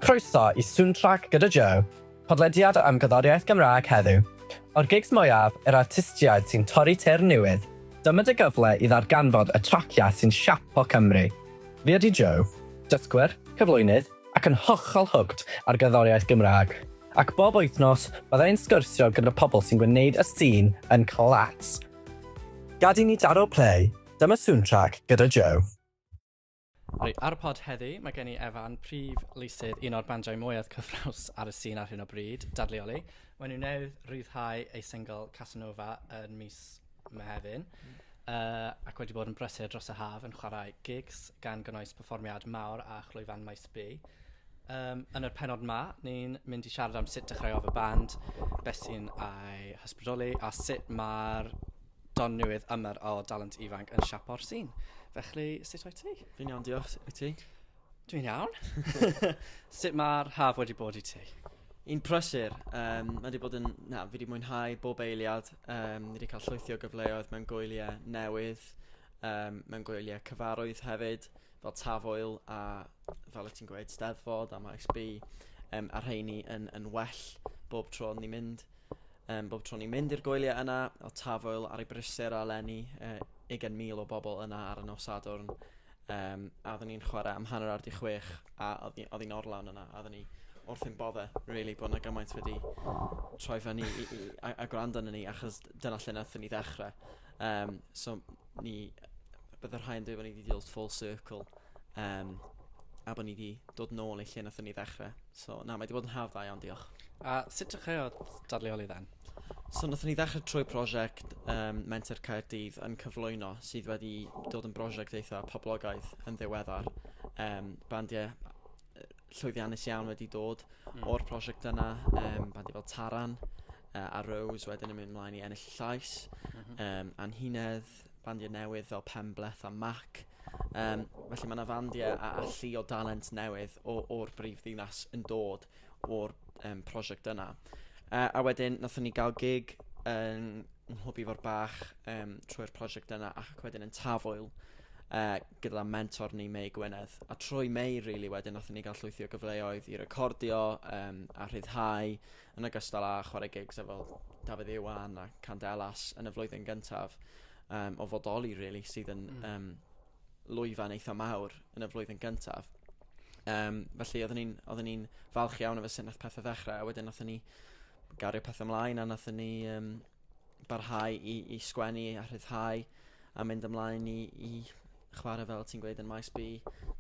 Croeso i Soundtrack gyda Joe, podlediad am gerddoriaeth Gymraeg heddiw. O'r gigs mwyaf, yr artistiaid sy'n torri teyrn newydd, dyma dy gyfle i ddarganfod y traciau sy'n siapo Cymru. Fi ydi Joe, dysgwr, cyflwynydd ac yn hollol hooked ar gerddoriaeth Gymraeg, ac bob wythnos bydda i'n sgwrsio gyda pobl sy'n gwneud y sîn yn class. Gad i ni daro play! Dyma soundtrack gyda Joe. Reit, ar y pod heddi, mae gen i Evan, prif lysydd un o'r bandiau mwyaf cyffrous ar y sîn ar hyn o bryd, Dadleoli. Mae nhw newydd rhyddhau ei single Casanova yn mis Mehefin, uh, ac wedi bod yn brysur dros y haf yn chwarae gigs gan gynnwys perfformiad mawr a chlwyfan maes B. Um, yn yr penod ma, ni'n mynd i siarad am sut dechreuodd y band, beth sy'n ei hysbrydoli a sut mae'r Don Newydd Ymer o Dalent Ifanc yn siapo'r sîn. Felly, sut wyt ti? Fi'n iawn, diolch. Wyt ti? Dwi'n iawn. sut mae'r haf wedi bod i ti? Yn prysur. Um, mae wedi bod yn... Na, fi wedi mwynhau bob eiliad. Um, ni wedi cael llwythi o gyfleoedd mewn gwyliau newydd, um, mewn gwyliau cyfarwydd hefyd, fel Tafwyl a fel y ti'n gweud, Steddfod a Maes B. Um, a rheini yn, yn well bob tro ni'n mynd. Yym, bob tro ni'n mynd i'r goeliau yna, o Tafwyl ar ei brysur a lenni uh, ugen mil o bobl yna ar y nos Sadwrn. Um, a oeddwn ni'n chwarae am hanner awr di chwech a oedd hi'n orlawn yna a oeddwn ni wrth yn bodde, really, bod yna gymaint wedi troi fyny i, i, a, a gwrando yna ni achos dyna lle nath ni ddechrau. Um, so ni, bydd y rhai'n dweud bod ni wedi dod full circle um, a bod ni wedi dod nôl i lle nath ni ddechrau. So na mae 'di bod yn haf dda iawn diolch. A sut dechreuodd dadleoli then? So nathon ni ddechrau trwy prosiect um, Menter Caerdydd yn cyflwyno sydd wedi dod yn brosiect eitha poblogaidd yn ddiweddar. Um, bandiau llwyddiannus iawn wedi dod mm. o'r prosiect yna, um, bandiau fel Taran uh, a Rose wedyn yn mynd ymlaen i ennill llais, mm -hmm. um, Anhunedd, bandiau newydd fel Penbleth a Mac. Um, felly mae yna fandiau a, a llu o dalent newydd o'r brif ddinas yn dod o'r um, prosiect yna. Uh, a wedyn, nathon ni gael gig yn nghlwb ifor bach um, trwy'r prosiect yna ac wedyn yn tafwyl uh, gyda mentor ni Mei Gwynedd. A trwy Mei, really, wedyn, nathon ni gael llwythi o gyfleoedd i recordio um, a rhyddhau yn ogystal â chwarae gigs efo Dafydd Iwan a Candelas yn y flwyddyn gyntaf um, o fodoli, really, sydd yn mm. um, lwyfan eitha mawr yn y flwyddyn gyntaf. Um, felly, oeddwn ni'n ni falch iawn o fy sy'n nath pethau ddechrau, a wedyn nath ni gario pethau ymlaen, a nath ni um, barhau i, i sgwennu a rhyddhau a mynd ymlaen i, i chwarae fel ti'n gweud yn maes B,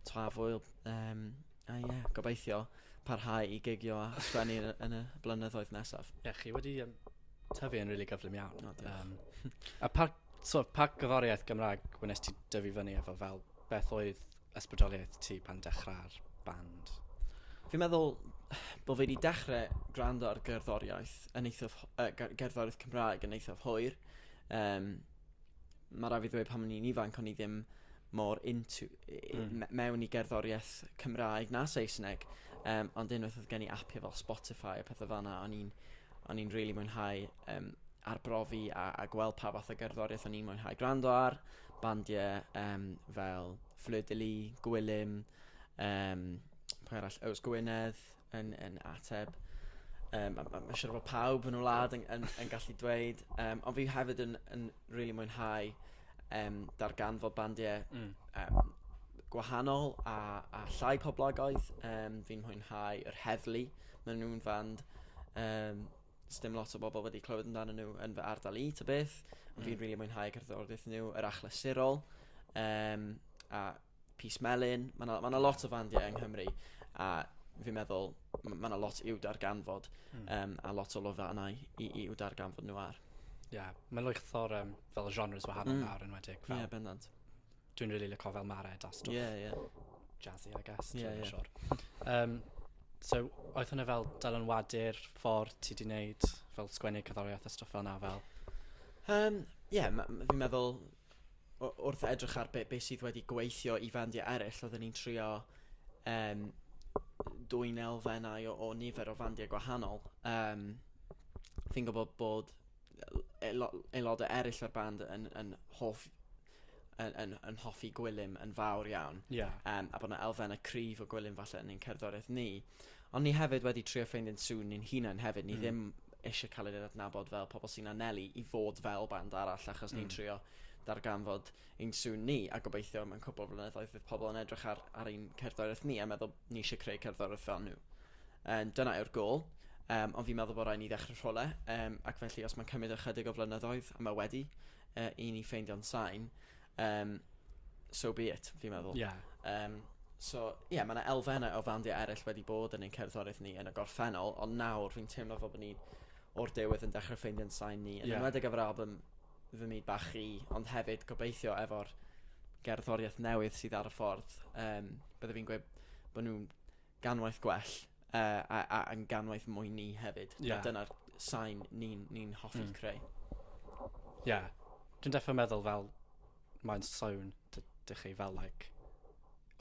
Tafwyl, um, a ie, yeah, gobeithio parhau i gigio a sgwennu yn, yn y blynyddoedd nesaf. Ie, yeah, chi wedi um, tyfu yn rili really gyflym iawn. No, um, a pa, so, pa gyforiaeth Gymraeg wnes ti dyfu fyny efo fel beth oedd ysbrydoliaeth ti pan dechrau'r band? Fi'n meddwl bod fi wedi dechrau gwrando ar gerddoriaeth yn eithaf, uh, gerddoriaeth Cymraeg yn eithaf hwyr. Um, mae rai fi ddweud pan o'n i'n ifanc o'n i ddim mor into mm. mewn i gerddoriaeth Cymraeg na Saesneg. Um, ond unwaith oedd gen i apio fel Spotify a pethau fanna, o'n i'n o'n i'n really mwynhau um, arbrofi a, a gweld pa fath o gerddoriaeth o'n i'n mwynhau gwrando ar. Bandiau yym fel Fleur de Lys, Gwilym, yym pwy arall? Yws Gwynedd yn yn ateb. Yym a ma' ma'n siŵr fod pawb yn y wlad yn yn yn gallu dweud yym ond fi hefyd yn yn rili mwynhau yym darganfod bandiau... Mm. ...yym gwahanol a a llai poblogaidd yym fi'n mwynhau yr Heddlu maen nhw'n fand yym sdim lot o bobl wedi clywed amdanyn nhw yn fy ardal i, ta beth. Ond mm. fi'n rili really mwynhau cerddoriaeth nhw, yr achlysurol, um, a Pys Melin. Mae yna ma lot o fandiau yng Nghymru, a fi'n meddwl mae yna lot i'w darganfod, mm. um, a lot o lofa yna i, i'w darganfod nhw ar. Ie, yeah. mae'n lwychthor um, fel genres wahanol mm. nawr yn wedig. Ie, yeah, bendant. Dwi'n rili lico fel Mared a stwff. Ie, ie. Jazzy, I guess. Ie, ie. Dwi'n siwr. Um, so, oedd hwnna fel dylanwadu'r ffordd ti di wneud fel sgwennu cyddoriaeth a stwff fel na fel? Um, ie, yeah, fi'n meddwl wrth edrych ar beth be sydd wedi gweithio i fandiau eraill, oedden ni'n trio um, dwy'n elfennau o, o nifer o fandiau gwahanol. Um, fi'n gwybod bod aelodau eraill o'r band yn, yn hoff yn, yn, yn hoffi gwylym yn fawr iawn. Yeah. Um, a bod yna elfennau cryf o gwylym falle yn ein cerddoriaeth ni. Ond ni hefyd wedi trio ffeindio'n sŵn ni'n hunain hefyd. Ni mm. ddim eisiau cael ei adnabod fel pobl sy'n anelu i fod fel band arall achos mm. ni'n hmm. trio darganfod ein sŵn ni a gobeithio mewn cwbl flynyddoedd fydd pobl yn edrych ar, ar ein cerddoriaeth ni a meddwl ni eisiau creu cerddoriaeth fel nhw. Um, dyna yw'r gol. Um, ond fi'n meddwl bod rhaid ni ddechrau rhole, um, ac felly os mae'n cymryd ychydig o flynyddoedd, a mae wedi, uh, i ni ffeindio'n sain, um, so be it, fi'n meddwl. Yeah. Um, so, ie, yeah, mae yna elfennau o fandiau eraill wedi bod yn ein cerddoriaeth ni yn y gorffennol, ond nawr fi'n teimlo fel bod ni o'r dewydd yn dechrau ffeindio'n sain ni, yn yeah. ymwedig efo'r album fy myd bach i, ond hefyd gobeithio efo'r gerddoriaeth newydd sydd ar y ffordd. Um, Byddai fi'n gweud bod nhw'n ganwaith gwell uh, a, a, a ganwaith mwy ni hefyd. Yeah. A dyna'r sain ni'n ni, n, hoffi mm. creu. Ie. Yeah. Dwi'n defo meddwl fel mae'n swn dych chi fel like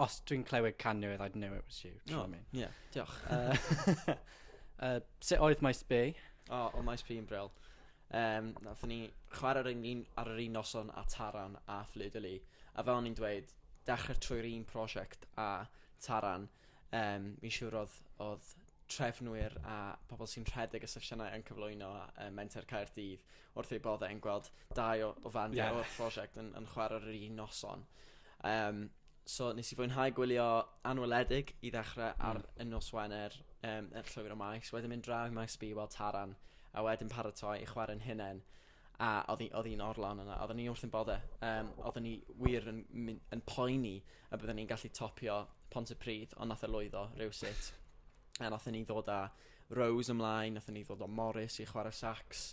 os dwi'n clywed canioedd I'd know it was you. No, I mean? yeah, diolch. Uh, uh, sut oedd Maes B? O, oh, o Maes B yn bril. Um, Nath ni chwarae ar, un, ar yr un noson a Taran a Fflyd Fflydoli. A fel o'n i'n dweud, dechrau trwy'r un prosiect a Taran, Yym, fi'n siŵr odd odd trefnwyr a pobl sy'n rhedeg y sesiynau yn cyflwyno yy Menter Caerdydd wrth eu bodde yn gweld dau o o fandiau... Ie. ...o'r prosiect yn yn chware ar yr un noson. Yym so nes i fwynhau gwylio Anweledig i ddechre... Hmm. ...ar y nos Wener yym yn Llwyr y Maes wedyn mynd draw i Maes B i weld Taran a wedyn paratoi i chware'n hunen. a odd 'i odd 'i'n orlawn yna odden ni wrth ein bodde yym odden ni wir yn myn- yn poeni a bydden ni'n gallu topio Pontypridd ond nath e lwyddo rywsut a nathon ni ddod â Rose ymlaen nathon ni ddod â Morris i chware sax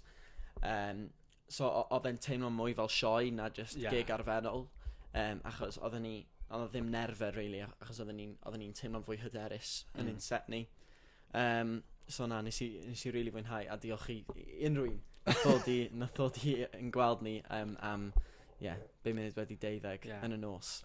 yym so o- odd e'n teimlo mwy fel sioe na jyst... Ie. ...gig arferol yym achos odden ni odd o ddim nerfe rili a- achos odden ni'n odden ni'n teimlo'n fwy hyderus yn ein set ni. Yym, so na, nes i, nes i rili fwynhau, a diolch i i unrhyw un nath ddod i, nath ddod i yn gweld ni yym, am, ie, be munud wedi deuddeg Ie. yn y nos.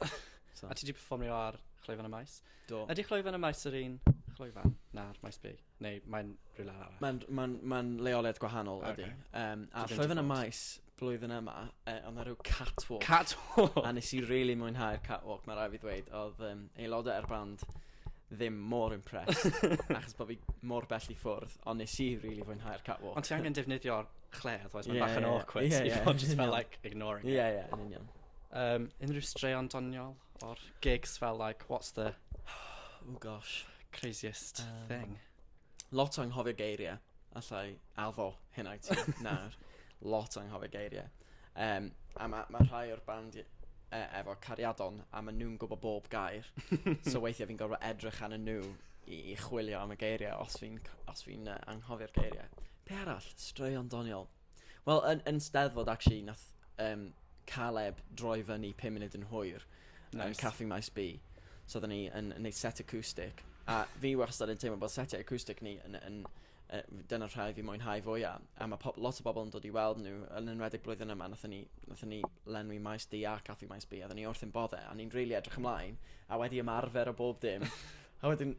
So, A ti 'di perfformio ar Chlwyfan y Maes? do. Ydy Chlwyfan y Maes yr un chlwyfan? Na'r Maes B? Neu mae'n rhywle arall? Ma'n, ma'n, ma'n leoliad gwahanol, ydy. Ocê. Yym, a Dwi ddim 'di Chlwyfan y bod. Maes, blwyddyn yma, e, oedd na rhyw catwalk. Catwalk! A nes i really mwynhau'r catwalk, mae rai fi ddweud. Oedd um, aelodau ar band ddim mor impressed, achos bod fi mor bell i ffwrdd, ond nes i really fwynhau'r catwalk. Ond ti angen defnyddio'r chle, otherwise mae'n yeah, bach yn yeah, awkward. Yeah, yeah, yeah, just fel, like, ignoring it. Yeah, yeah, yn union. Um, unrhyw straeon doniol o'r gigs fel, like, what's the... oh gosh. Craziest um, thing. Lot anghofio geiriau. Alla i addo hynna i ti nawr. Lot anghofio geiriau. Um, a mae ma rhai o'r band e, efo cariadon a maen nhw'n gwybod bob gair. so weithiau fi'n gorfod edrych ar nhw i, i chwilio am y geiriau os fi'n fi anghofio'r geiriau. Pe arall, straeon doniol. Wel yn yn Steddfod actually nath yym Caleb droi fyny pum munud yn hwyr yn Nice. Caffi Maes B. So oedden ni yn yn neud set acoustic a fi wastad yn teimlo bod setiau acoustic ni yn yn yy dyna'r rhai fi'n mwynhau fwya a ma' pob- lot o bobl yn dod i weld nhw yn enwedig blwyddyn yma nathon ni nathon ni lenwi Maes D a Caffi Maes B a oedden ni wrth ein bodde a o'n ni'n rili edrych ymlaen a wedi ymarfer a bob dim a wedyn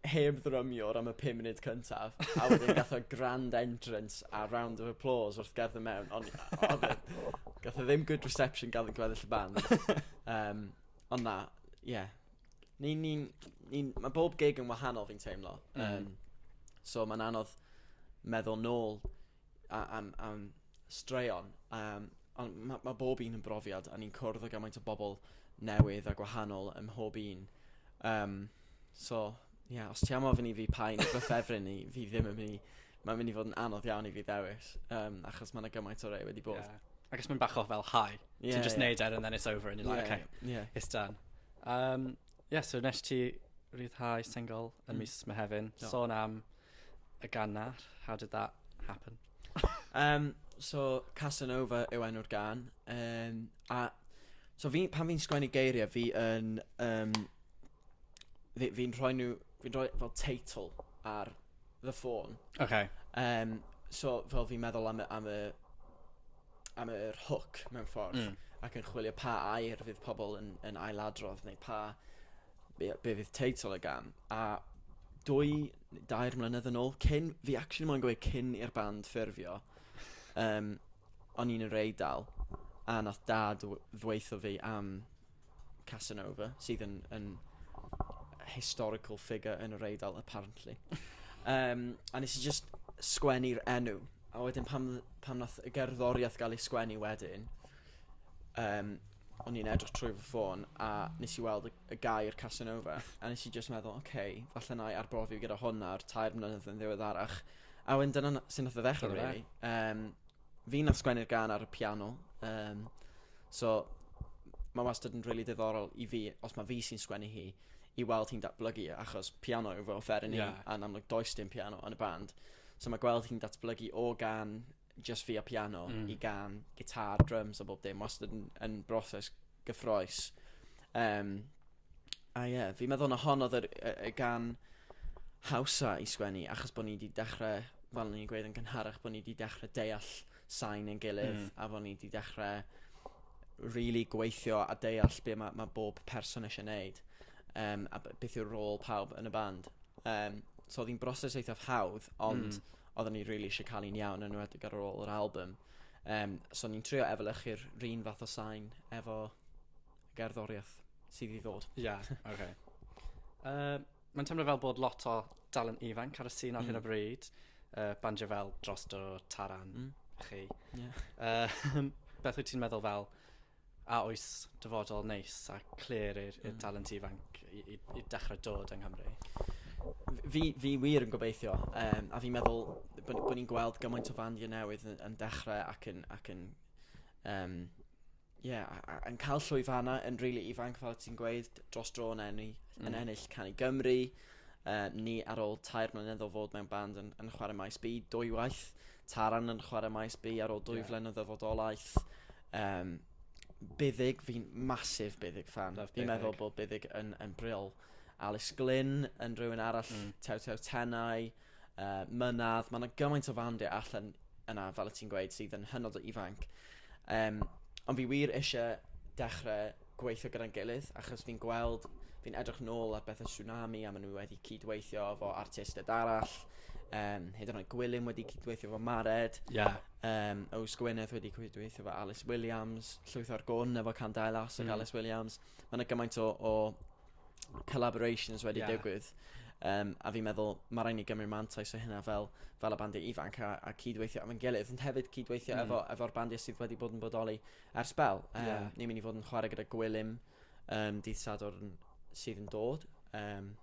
heb ddrymiwr am y pum munud cyntaf, a wedyn gath o grand entrance a round of applause wrth gerdd y mewn, ond oedd e, gath o ddim good reception gan y gweddill y band. Um, ond na, ie. Yeah. Ni, ni, ni, mae bob gig yn wahanol fi'n teimlo. Mm. Um, so mae'n anodd meddwl nôl a am am straeon yym on' ma' ma' bob un yn brofiad a ni'n cwrdd â gymaint o bobl newydd a gwahanol ym mhob un yym so ie os ti am ofyn i fi pa un fy ffefryn i fi ddim yn myn' i ma'n myn' i fod yn anodd iawn i fi ddewis yym achos ma' 'na gymaint o rei wedi bod. Ie. Ac os ma'n bach o fel high... Ie ie. ...ti'n jyst neud e and then it's over an' you're like ok. Ie ie. It's done. Yym ie so nesh ti ryddhau single yn mis Mehefin. Do. Sôn am A gannar, how did that happen? um, so, Casanova yw enw'r gan. Um, a, so, fi, pan fi'n sgwennu geiriau, fi yn... Um, fi'n fi rhoi nhw... Fi'n rhoi fel teitl ar the ffôn. Okay. Um, so, fel fi'n meddwl am y, am y am yr hook mewn ffordd mm. ac yn chwilio pa air fydd pobl yn, yn ailadrodd neu pa be, be fydd teitl y gan, a dwy, dair mlynedd yn ôl, cyn, fi actually moyn gweud cyn i'r band ffurfio, um, o'n i'n yr eidal, a nath dad ddweithio fi am Casanova, sydd yn, yn historical figure yn yr eidal, apparently. um, a nes i just sgwennu'r enw, a wedyn pam, pam nath y gerddoriaeth gael ei sgwennu wedyn, um, o'n i'n edrych trwy fy ffôn a nes i weld y, y gair Casanova a nes i just meddwl, oce, okay, falle na i arbrofi gyda hwn ar tair mlynedd yn ddiweddarach. A wedyn dyna sy'n nath o ddechrau, Dyna fe. really. Um, fi nath sgwennu'r gan ar y piano. Um, so, mae wastad yn really diddorol i fi, os mae fi sy'n sgwennu hi, i weld hi'n datblygu, achos piano yw fy offeryn i, Ie. a'n amlwg does dim piano yn y band. So mae gweld hi'n datblygu o gan jyst fi a piano mm. i gan, gitar, drums a bob dim, wastad yn, yn broses gyffroes. Um, a ie, yeah, fi'n meddwl na hon oedd y gan hawsa i sgwennu, achos bod ni wedi dechrau, fel ni'n gweud yn gynharach, bod ni wedi dechrau deall sain yn gilydd, mm. a bod ni wedi dechrau really gweithio a deall beth mae, mae bob person eisiau gwneud, um, a beth yw'r rôl pawb yn y band. Um, so oedd hi'n broses eithaf hawdd, ond mm oedden ni rili eisiau cael un iawn, yn enwedig ar ôl yr album. Um, so ni'n trio efelychu'r run fath o sain efo gerddoriaeth sydd i ddod. Ie, yeah, oce. Okay. Uh, Mae'n teimlo fel bod lot o dalen ifanc ar y sîn ar mm. hyn o mm. bryd. Uh, banjo fel dros do taran mm. chi. Yeah. Uh, beth wyt ti'n meddwl fel A oes dyfodol neis a clir i'r i'r talent ifanc i i i dechre dod yng Nghymru? F- fi fi wir yn gobeithio yym a fi'n meddwl bo' n- bo' ni'n gweld gymaint o fandiau newydd yy yn dechre ac yn ac yn yym ie a- a- yn ca'l llwyfannau yn rili ifanc fel o' ti'n gweud d- dros dro yn enni- yn ennill Can i Gymru yy ni ar ôl tair mlynedd o fod mewn band yn yn chware Maes B dwywaith. Taran yn chwarae Maes B ar ôl dwy yeah. flynyddoedd o fodolaeth. Um, Byddig, fi'n masif Byddig fan. Fi'n meddwl bod Byddig yn, yn briol. Alice Glyn yn rhywun arall, mm. Tew Tew Tenau, uh, Mynad. Mae yna gymaint o fandiau allan yna, fel y ti'n gweud, sydd yn hynod o ifanc. Um, ond fi wir eisiau dechrau gweithio gyda'n gilydd achos fi'n gweld, fi'n edrych nôl ar bethau Tsunami a maen nhw wedi cyd-weithio efo artistiaid arall. Um, hyd yn oed Gwilym wedi cyd-weithio efo Mared. Yeah. Um, Ows Gwyneth wedi cyd-weithio efo Alice Williams. Llwyth o'r gwn efo Can Dailas ac mm. Alice Williams. Mae yna gymaint o, o collaborations wedi yeah. digwydd. Um, a fi'n meddwl, mae rhaid ni gymryd mantais o hynna fel, fel y bandiau ifanc a, a cydweithio efo'n gilydd, ond hefyd cydweithio mm. efo'r efo, efo bandiau sydd wedi bod yn bodoli Ar sbel, um, yeah. ni'n mynd i fod yn chwarae gyda Gwilym um, dydd Sadwrn sydd yn dod, um,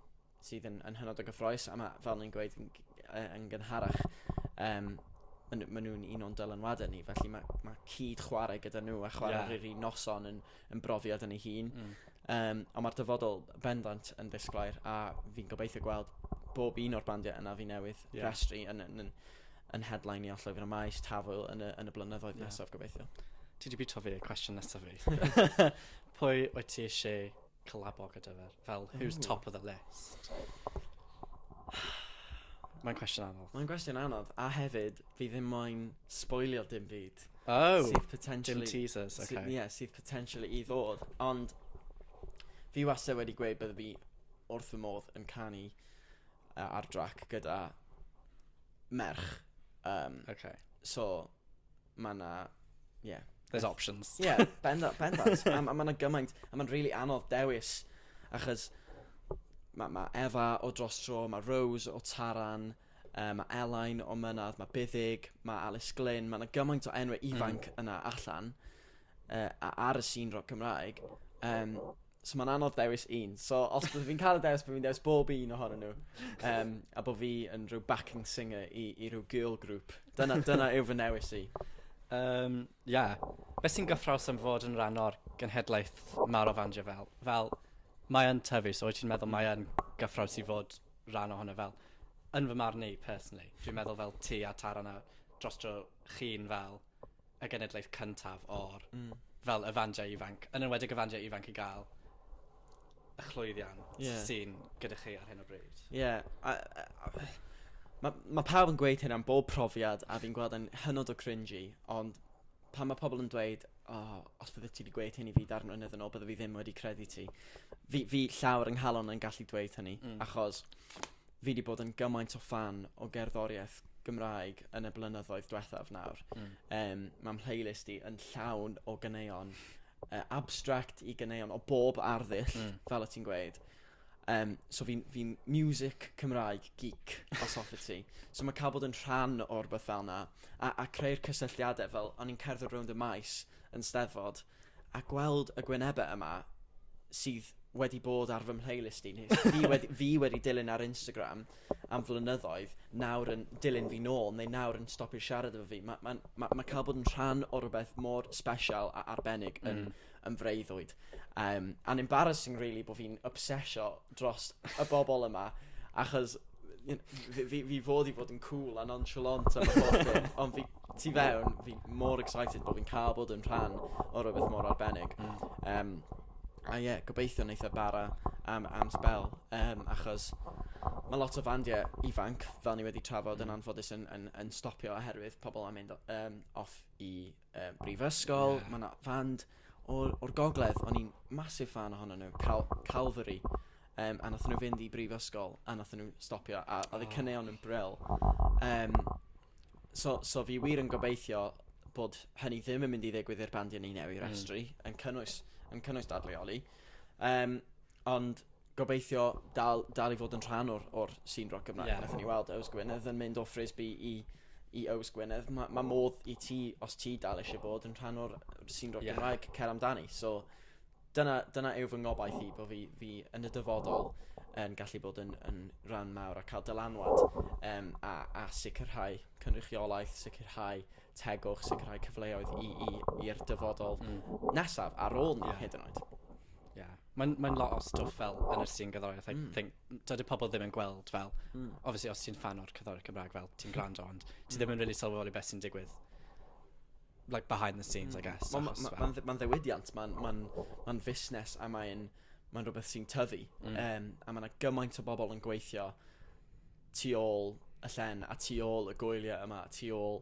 sydd yn, yn hynod o gyffroes, a mae, fel ni'n gweud, yn, yn gynharach, um, maen ma nhw'n un o'n dylanwadau ni, felly mae, ma cyd chwarae gyda nhw a chwarae yeah. rydyn noson yn, yn brofiad yn ei hun. Mm. Um, ond mae'r dyfodol bendant yn ddisglair a fi'n gobeithio gweld bob un o'r bandiau yna fi newydd yeah. restri yn, yn, yn, yn headlineio Llwyfan y Maes, Tafwyl, yn y, yn y blynyddoedd yeah. nesaf, gobeithio. Ti di bwyta fi, cwestiwn nesaf fi. Pwy wyt ti eisiau collabo gyda fe? Fel, who's Ooh. top of the list? Mae'n cwestiwn anodd. Mae'n cwestiwn anodd, a hefyd, fi ddim moyn spoilio dim byd. Oh, sydd potentially... Dim teasers, okay. Sydd, yeah, sydd potentially i ddod. Ond, fi wastad wedi gweud bydde fi wrth fy modd yn canu yy ar drac gyda merch. Um, okay. So, mae yna... Yeah. There's options. Ie, yeah, bendant, bendant. a mae yna gymaint, a mae'n really anodd dewis, achos mae ma Efa o dros tro, mae Rose o Taran, uh, mae Elain o Mynadd, mae Byddig, mae Alice Glyn, mae yna gymaint o enwau hmm. ifanc mm. yna allan uh, ar y sîn rock Cymraeg. Um, So mae'n anodd dewis un. So os byddwn fi'n cael y dewis, byddwn fi'n dewis bob un ohonyn nhw. Um, a bod fi yn rhyw backing singer i, i rhyw girl group. Dyna, dyna yw fy newis i. Um, ia. Be sy'n gyffraws am fod yn rhan o'r genhedlaeth mawr o fandio fel? Fel, mae yn tyfu, so wyt ti'n meddwl mae yn gyffraws i fod rhan ohono fel? Yn fy marn i, personally. Dwi'n meddwl fel ti a Tara na dros dro chi'n fel y genedlaeth cyntaf o'r... Hmm. ...fel y fandiau ifanc, yn enwedig y fandiau ifanc i gael y llwyddiant... Ie. ...sy'n gyda chi ar hyn o bryd. Ie, a a a yy ma' ma' pawb yn gweud hyn am bob profiad a fi'n gweld e'n hynod o cringey ond pan ma' pobl yn dweud o os byddet ti 'di gweud hyn i fi dair mlynedd yn ôl bydda fi ddim wedi credu ti. Fi fi llaw ar 'y nghalon yn gallu dweud hynny... Hmm. ...achos fi 'di bod yn gymaint o ffan o gerddoriaeth Gymraeg yn y blynyddoedd dwethaf nawr. Mm. Um, Mae mhlaylist i yn llawn o ganeuon uh, abstract i ganeuon o bob arddull, mm. fel y ti'n gweud. Um, so fi'n fi music Cymraeg geek, os hoffi ti. So mae cael bod yn rhan o'r beth fel yna, a, a creu'r cysylltiadau, fel o'n i'n cerdded rownd y maes, yn Steddfod, a gweld y gwynebau yma, sydd wedi bod ar fy mhlaylist i, neu fi wedi, fi wedi dilyn ar Instagram am flynyddoedd, nawr yn dilyn fi nôl, neu nawr yn stopio siarad efo fi. Mae ma, ma, ma cael bod yn rhan o rhywbeth mor special a arbennig yn, mm. yn freuddwyd. Um, and embarrassing, really, bod fi'n obsesio dros y bobl yma, achos fi, fi, fi fod i fod yn cool a nonchalant am y ffordd, ond fi tu fewn, fi mor excited bod fi'n cael bod yn rhan o rhywbeth mor arbennig. Um, a ie, yeah, gobeithio wneud e bara am, am spel, um, achos mae lot o fandiau ifanc, fel ni wedi trafod yn anffodus, yn, yn, yn stopio oherwydd pobl am mynd um, off i um, brifysgol, yeah. mae yna fand o'r, or gogledd, o'n i'n masif fan ohono nhw, Cal Calvary, um, a nath nhw fynd i brifysgol, a nath nhw stopio, a oedd y cyneuon yn bril. Um, so, so fi wir yn gobeithio bod hynny ddim yn mynd i ddigwydd i'r bandiau ni newydd hmm. restru, mm. yn cynnwys, yn cynnwys dadleoli. Um, Ond gobeithio dal, dal i fod yn rhan o'r, or scene rock Gymraeg. Yeah. Nath ni weld Ows Gwynedd yn mynd o Frisby i, i Ows Gwynedd. Mae ma modd i ti, os ti dal eisiau bod yn rhan o'r scene rock yeah. Gymraeg, cer amdani. So, dyna, dyna yw fy ngobaith i, bod fi, fi yn y dyfodol yn gallu bod yn, yn rhan mawr a cael dylanwad um, a, a sicrhau cynrychiolaeth, sicrhau tegwch, sicrhau cyfleoedd i'r dyfodol mm. nesaf ar ôl ni yeah. hyd yn oed. Ie. Mae'n mae'n lot o stwff fel yn y sîn gerddoriaeth I... Hmm. ...think n- dydi pobol ddim yn gweld fel... Hmm. ...obviously os ti'n ffan o'r cerddoriaeth Cymraeg fel ti'n grando ond ti ddim yn rili sylweddoli beth sy'n digwydd like behind the scenes I guess achos fel... Wel ma' ma' ma'n ddi- ma'n ddiwydiant ma'n ma'n ma'n fusnes a mae'n ma'n rwbeth sy'n tyfu... Hmm. ...yym a ma' 'na gymaint o bobol yn gweithio tu ôl y llen a tu ôl y gwylie yma tu ôl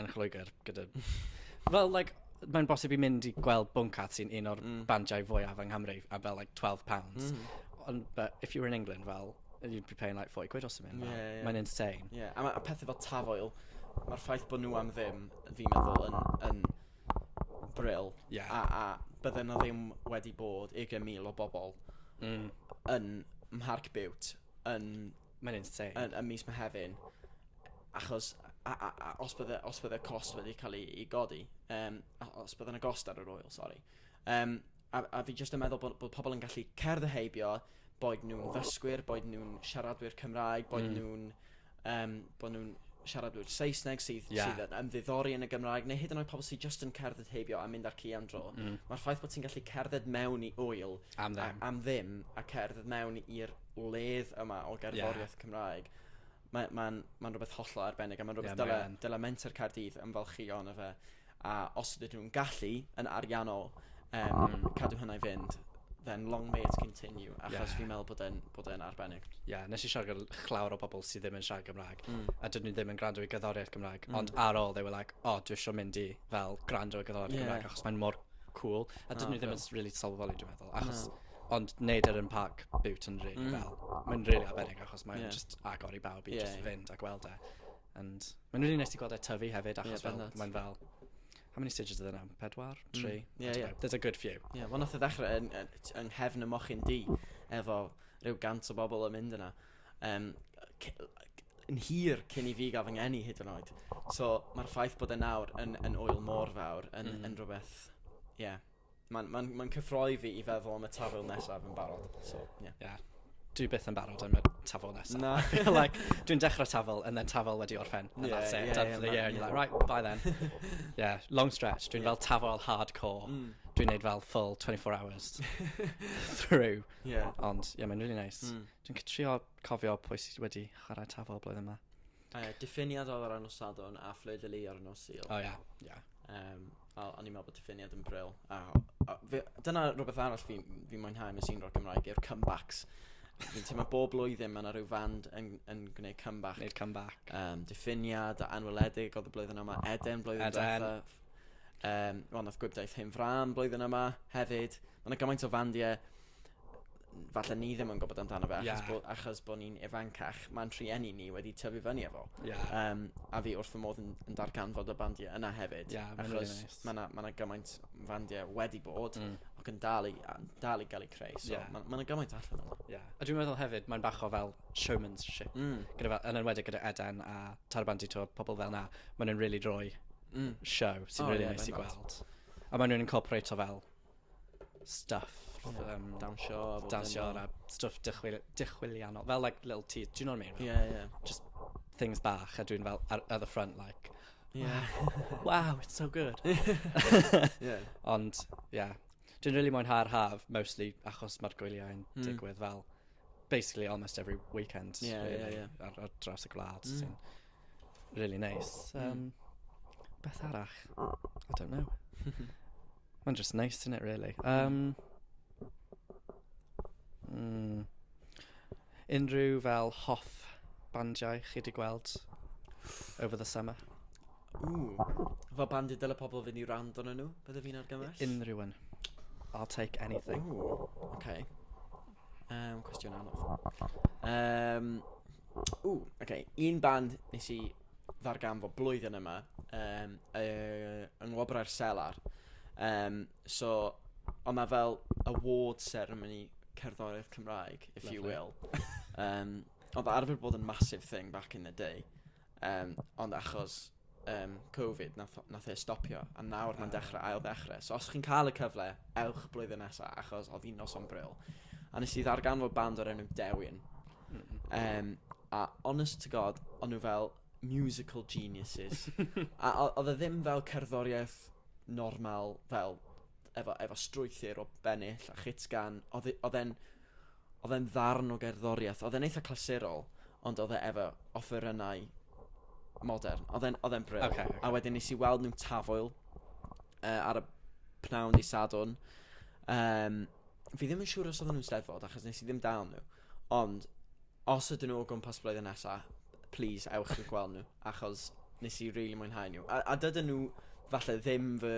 yn Lloegr gyda... Fel like mae'n bosib i mynd i gweld Bwncath sy'n un o'r... Mm. ...bandiau fwyaf yng Nghymru a fel like twelve pounds. Mm. Ond but if you were in England fel you'd be paying like forty quid or something. Ie ie. Mae'n insane. Ie yeah. a ma' a pethe fel Taf Oil ma'r ffaith bo' nhw am ddim fi'n meddwl yn yn bril. Ie. A a bydde 'na ddim wedi bod ugain mil o bobl... Mm. ...yn Mharc Bute yn Mae'n insane. Yn, yn mis Mehefin. Achos, a, a, a, os bydde, os bydde cost wedi cael ei, ei godi, um, os bydde yna gost ar yr oil, sori. Um, a, a fi jyst yn meddwl bod, bod pobl yn gallu cerdd y heibio, boed nhw'n ddysgwyr, boed nhw'n siaradwyr Cymraeg, boed mm. nhw'n um, bod nhw'n siaradwyr Saesneg sydd, yeah. sydd yn ymddiddori yn y Gymraeg, neu hyd yn oed pobl sydd just yn cerdded heibio a mynd ar ci am dro. Mm. Mae'r ffaith bod ti'n gallu cerdded mewn i wyl am ddim, a, am ddim a cerdded mewn i'r wledd yma o gerddoriaeth yeah. Cymraeg, mae'n ma, ma rhywbeth hollol arbennig, a mae'n rhywbeth yeah, dyle, dyle Menter Caerdydd yn falchu o'n efe. A os ydyn nhw'n gallu, yn ariannol, um, mm. cadw hynna i fynd, then long may it continue, achos yeah. fi'n meddwl bod e'n, bod e'n arbennig. Ie, yeah, nes i siarad gyda chlawr o bobl sydd ddim yn siarad Gymraeg, mm. a dyn nhw ddim yn gwrando i gyddoriaeth Gymraeg, mm. ond ar ôl, they were like, oh, dwi eisiau mynd i fel gwrando i gyddoriaeth yeah. Gymraeg, achos mae'n mor cool, a dyn oh, nhw ddim yn really sylweddoli, dwi'n meddwl, achos... No. Ond neud e yn parc Bute yn rili fel... Mm. ...mae'n rili arbennig achos mae'n... Ie. ...jyst agor i bawb i... Ie. ...jyst fynd a gweld e. And mae'n rili neis ti gweld e tyfu hefyd achos... Ie bendant. ...fel mae'n fel how many stages are there now? Pedwar? Hmm. Tri? Ie ie. I don't know. There's a good few. Ie wel nath e ddechre yn yy t- yng nghefn y mochyn du efo ryw gant o bobl yn mynd yna yym c- c- yn hir cyn i fi ga'l fy ngeni hyd yn oed. So ma'r ffaith bod e nawr yn yn ŵyl mor fawr yn... Hmm. ...yn rwbeth ie. Mae'n ma ma cyffroi fi i feddwl am y tafwyl nesaf yn barod. So, yeah. yeah. Dwi byth yn barod am y tafwyl nesaf. Na. like, dwi'n dechrau tafwyl and then tafwyl wedi orffen. And yeah, that's it. Yeah, yeah, yeah, yeah, and you're like, right, bye then. yeah, long stretch. Dwi'n yeah. fel tafwyl hardcore. Mm. Dwi'n neud fel full 24 hours through. Yeah. Ond, yeah, mae'n really nice. Mm. Dwi'n trio cofio pwy sydd wedi chwarae tafwyl blwyddyn yma. Uh, diffiniad oedd ar nos Sadwn a fflyd y li ar nos Sul. O oh, ia, yeah. ia. Yeah. Um, wel, o'n i'n meddwl bod diffiniad yn bril. A, a, fe, dyna rhywbeth arall fi, fi mwynhau yn y sîn ro'r Gymraeg yw'r comebacks. Fi'n teimlo bob blwyddyn mae yna rhyw fand yn, yn gwneud comeback. Gwneud comeback. Um, diffiniad a anweledig oedd y blwyddyn yma. Eden blwyddyn Eden. Dweitha. Um, Wel, nath gwybdaeth hyn fram blwyddyn yma hefyd. Mae yna gymaint o fandiau falle ni ddim yn gwybod amdano fe, achos, yeah. bo, achos bod ni'n ifancach, mae'n trueni ni wedi tyfu fyny efo. Yeah. Um, a fi wrth fy modd yn, yn darganfod y bandiau yna hefyd, yeah, achos nice. mae yna ma gymaint fandiau wedi bod, mm. ac yn dal i, dal i gael ei creu, so yeah. mae yna gymaint allan yna. Yeah. A dwi'n meddwl hefyd, mae'n bach o fel showmanship, mm. gyda fel, yn enwedig gyda Eden a Tarbandi, to pobl fel na, maen nhw'n really roi mm. show sy'n oh, really yeah, nice i gweld. A maen nhw'n incorporate o fel stuff um, dawnsio dawnsio a stuff dychwil, dychwilianol fel like little tea do you know what I mean yeah yeah just things bach a dwi'n fel ar, at the front like yeah wow it's so good yeah ond yeah dwi'n really mwynhau'r haf mostly achos mae'r gwyliau yn hmm. digwydd fel basically almost every weekend. Yeah, really, yeah, yeah. Ar, ar draws y gwlad, mm. sy'n really nice. Mm. Um, mm. Beth arall? I don't know. Mae'n just nice, isn't it, really? Um, mm, unrhyw fel hoff bandiau chi wedi gweld over the summer? Ooh. Fo bandid dyle pobl fynd i rand o'n nhw, bydde fi'n argymell? Unrhyw un. I'll take anything. Ooh. Okay. Um, cwestiwn anodd. Um, ww, oce. Okay. Un band nes i ddarganfod blwyddyn yma um, uh, yng Ngwobrau'r Selar. Um, so, ond mae fel award ceremony cerddoriaeth Cymraeg, if Lovely. you will. Um, ond arfer bod yn massive thing back in the day. Um, ond achos um, Covid, nath, nath e stopio, a nawr mae'n dechrau ail ddechrau. So os chi'n cael y cyfle, ewch blwyddyn nesaf, achos oedd hi'n nos o'n bril. A nes i ddarganfod band o'r enw Dewin. Mm -hmm. um, a honest to god, o'n nhw fel musical geniuses. a oedd e ddim fel cerddoriaeth normal, fel efo, efo strwythyr o bennill a chitgan. Oedd e, e'n Oedd e'n ddarn o gerddoriaeth. Oedd e'n eitha clasurol, ond oedd e efo offerynnau modern. Oedd e'n, oedd e'n bril. Ocê, ocê. A wedyn nes i weld nhw'n Tafwyl, yy, ar y pnawn dydd Sadwrn. Yym, fi ddim yn siŵr os oedden nhw'n Steddfod, achos nes i ddim dal nhw. Ond, os ydyn nhw o gwmpas blwyddyn nesa... Plis ewch i gweld nhw, achos nes i rili mwynhau nhw. A, a dydyn nhw falle ddim fy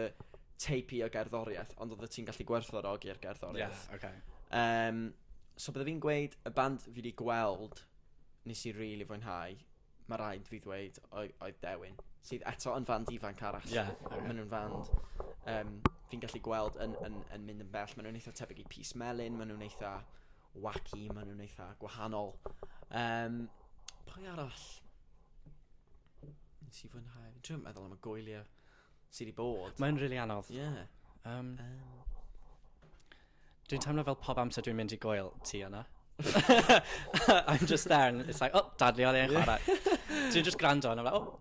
teip i o gerddoriaeth, ond oeddet ti'n gallu gwerthfawrogi'r gerddoriaeth. Ie, ocê. Yym, so bydde fi'n gweud, y band fi 'di gweld nes i rili fwynhau, ma' raid fi ddweud, oe- oedd Dewin, sydd eto yn fand ifanc arall. Ie, ocê. Maen nhw'n fand yym fi'n gallu gweld yn yn yn mynd yn bell. Maen nhw'n eitha tebyg i Pys Melyn, maen nhw'n eitha wacky, maen nhw'n eitha gwahanol. Um, pwy arall? Nes i fwynhau. Dwi'n meddwl am y gwyliau sydd wedi bod. Mae'n rili really anodd. Ie. Yeah. Um, um, Dwi'n teimlo fel pob amser dwi'n mynd i gwyl ti yna. I'm just there and it's like, oh, dadli oedd e'n chwarae. Dwi'n just gwrando and I'm like, oh,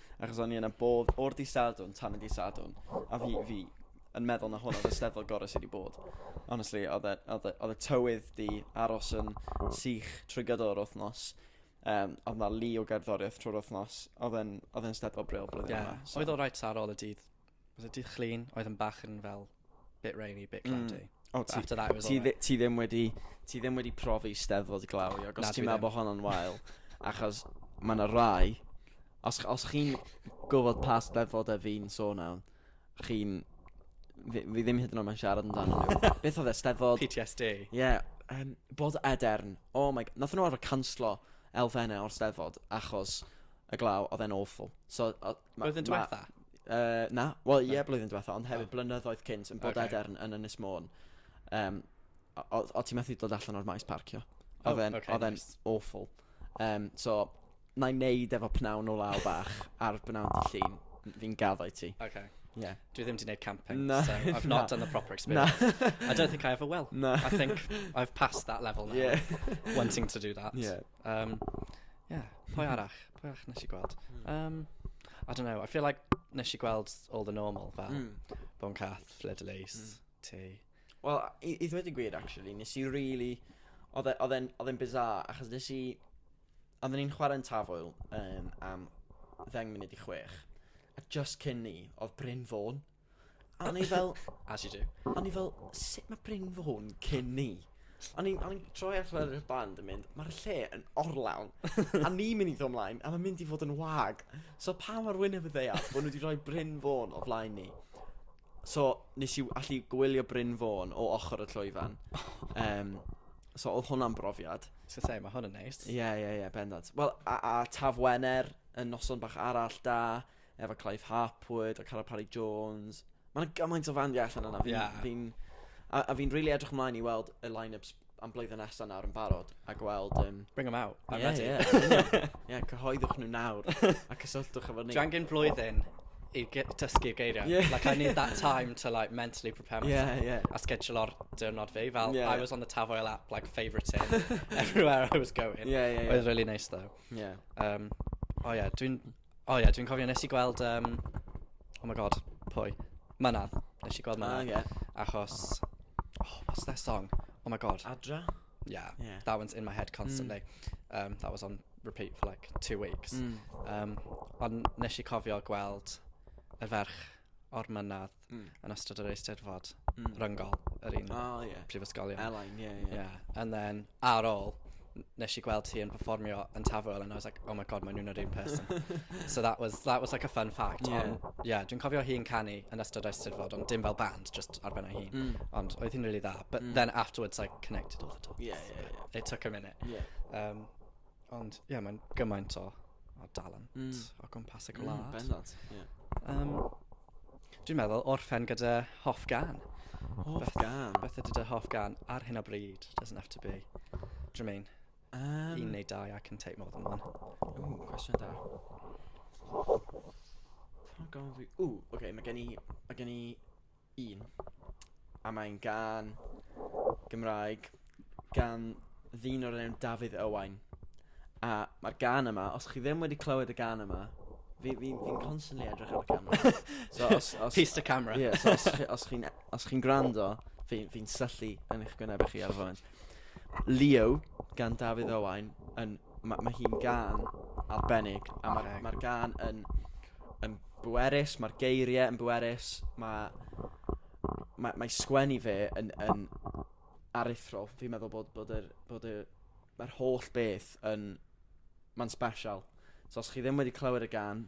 Achos o'n i yna bob, o'r di Sadwn, tan y di Sadwn. A fi, fi yn meddwl na hwn oedd y steddfod gorau sydd wedi bod. Honestly, oedd e, oedd e, oedd e tywydd di aros yn sych trwy gydol yr wythnos. Um, oedd na lu o gerddoriaeth trwy'r wythnos. Oedd e'n oedd e'n steddfod bril blwyddyn Ie. yma. So. Oedd o rhaid sar ôl y dydd. was it dydd Llun oedd yn bach yn fel bit rainy, bit hmm. cloudy. Mm. Oh, ti, after that it was ti, alright. ti ddim wedi ti ddim wedi profi steddfod glaw i agos ti'n meddwl bod hon yn wael achos mae yna rai os, os chi'n gwybod pa steddfod e fi'n sôn am chi'n fi, fi ddim hyd yn oed yn siarad amdano nhw beth oedd e steddfod PTSD ie yeah, um, bod edern oh my god nath nhw arfer canslo elfennau o'r steddfod achos y glaw oedd e'n awful so Ma- Blwyddyn ma- diwetha? Yy, na, wel ie blwyddyn diwetha, ond hefyd blynyddoedd cynt yn bod Ocê. edern yn Ynys Môn. Um, o, o ti methu dod allan o'r maes parcio. O, Oedd e'n ocê, oedd e'n nice. awful. Um, so, na i neud efo pnawn o law bach a'r bnawn dy llun, fi'n gaddo i ti. Okay. Yeah. Dwi ddim wedi gwneud camping, Na, so I've na. not done the proper experience. I don't think I ever will. Na. I think I've passed that level now, Yeah. wanting to do that. Yeah. Yym, ie, pwy arall? Pwy arall wnes i gweld? Yym, I don't know, I feel like wnes i gweld all the normal fel Mm. Bon Cath, Fleur de Lis, Mm. ti. Wel, i, i ddweud y gwir, actually, nes i really... Oedd e- oedd e'n oedd e'n bizarre, achos nes i... Oedden ni'n chwarae yn Tafwyl um, am ddeng munud i chwech. A just cyn ni, oedd Bryn Fôn. A o'n i fel... As you do. O'n i fel, sut mae Bryn Fôn cyn ni? O'n i'n o'n i'n troi allan ar y band yn mynd, mae'r lle yn orlawn. a ni'n mynd i ddod ymlaen, a mae'n mynd i fod yn wag. So pa mor wyneb y ddeall bod nhw wedi rhoi Bryn Fôn o flaen ni. So nes i allu gwylio Bryn Fôn o ochr y llwyfan. Um, so oedd hwnna'n brofiad. So say, mae hwn yn neis. Ie, ie, ie, bendant. Wel, a, a Taf Wener yn noson bach arall da. efo Clive Harpwood a Cara Parry Jones. Mae yna gymaint o fandiau allan yna. Fi'n, yeah. fi a, a fi'n really edrych ymlaen i weld y line-ups am blwyddyn nesaf nawr yn barod a gweld... Um... Bring them out. I'm yeah, ready. Yeah, yeah, cyhoeddwch nhw nawr a cysylltwch efo ni. Dwi angen blwyddyn i dysgu geiriau. Yeah. Like, I need that time to, like, mentally prepare myself. Yeah, yeah. A schedule o'r diwrnod fi. Fel, yeah, I was on the Tavoil app, like, favouriting everywhere I was going. Yeah, yeah, yeah. Oedd really nice, though. Yeah. Um, oh, yeah, dwi'n O ie, dwi'n cofio nes i gweld um, Oh my god, pwy? Mynadd. Nes i gweld Mynadd. Oh, yeah. Achos... Oh, what's their song? Oh my god. Adra? Yeah, yeah. that one's in my head constantly. Mm. Um, that was on repeat for like two weeks. Mm. Um, ond nes i cofio gweld y ferch o'r mynadd Mm. yn ystod yr Eisteddfod Mm. ryngol yr un O, ie. prifysgolion. Elain, ie, ie. Yeah, and then ar ôl n- nes i gweld hi yn performio yn Tafwyl and I was like, oh my god, maen nhw'n yr un person. so that was, that was like a fun fact. Ie. Ond, yeah, dwi'n cofio hi'n canu yn ystod Eisteddfod, ond dim fel band, just ar ben ei hun. Mm. Ond oedd hi'n really dda. But Mm. then afterwards I connected all the dots. Ie, ie, ie. It took a minute. Ie. Um, Ond ie, mae'n gymaint o, o dalent... Mm. ...o gwmpas y gwlad. Mm, bendant, ie. Yeah. Um, Dwi'n meddwl orffen gyda hoff gan. Hoff beth, gan? Beth ydy dy hoff gan ar hyn o bryd? Doesn't have to be. Do you mean? Um, Un neu dau, I can take more than one. Ooh, cwestiwn da. Pan gofyn fi... Ooh, okay, mae gen i... Mae gen i un. A mae'n gan Gymraeg gan ddyn o'r enw Dafydd Owain. A mae'r gan yma, os chi ddim wedi clywed y gan yma, fi, fi, fi'n constantly edrych ar y camera. So, os, os, Piece to camera. Ie, yeah, so os, chi, os chi'n os chi'n gwrando, fi'n fi syllu yn eich gwyneb chi ar y foment. Leo, gan Dafydd Owain, yn ma', ma' hi'n gan arbennig, a mae'r ma gan yn, yn bwerus, mae'r geiriau yn bwerus, mae, mae, mae sgwennu fe yn, yn aruthrol. Fi'n meddwl bod, bod, yr, bod yr, mae'r holl beth yn, mae'n special. So os chi ddim wedi clywed y gan,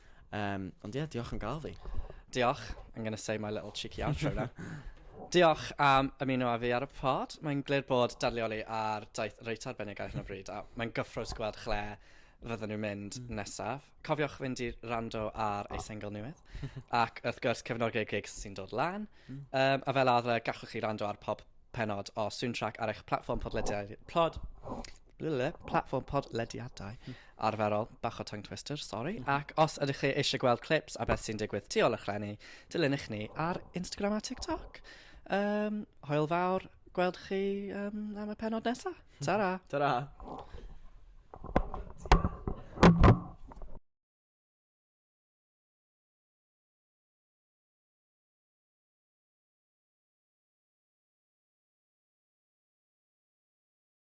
Um, ond ie, yeah, diolch yn gael fi. Diolch. I'm going to say my little cheeky outro now. Diolch am ymuno â fi ar y pod. Mae'n glir bod darlleoli ar daith reit arbennig ar hyn o bryd, a mae'n gyffrous gweld chle fydden nhw'n mynd mm. nesaf. Cofiwch fynd i rando ar ei single newydd, ac wrth gwrs cefnogi'r gig sy'n dod lan. Mm. Um, a fel arfer, gallwch chi rando ar pob penod o Soundtrack ar eich platform podlediad, plod, platfform podlediadau arferol, bach o tongue twister, sori, ac os ydych chi eisiau gweld clips a beth sy'n digwydd tu ôl y chlenni, dilynwch ni ar Instagram a TikTok. Um, hoel fawr, gweld chi um, am y penod nesaf. Ta-ra! Ta-ra!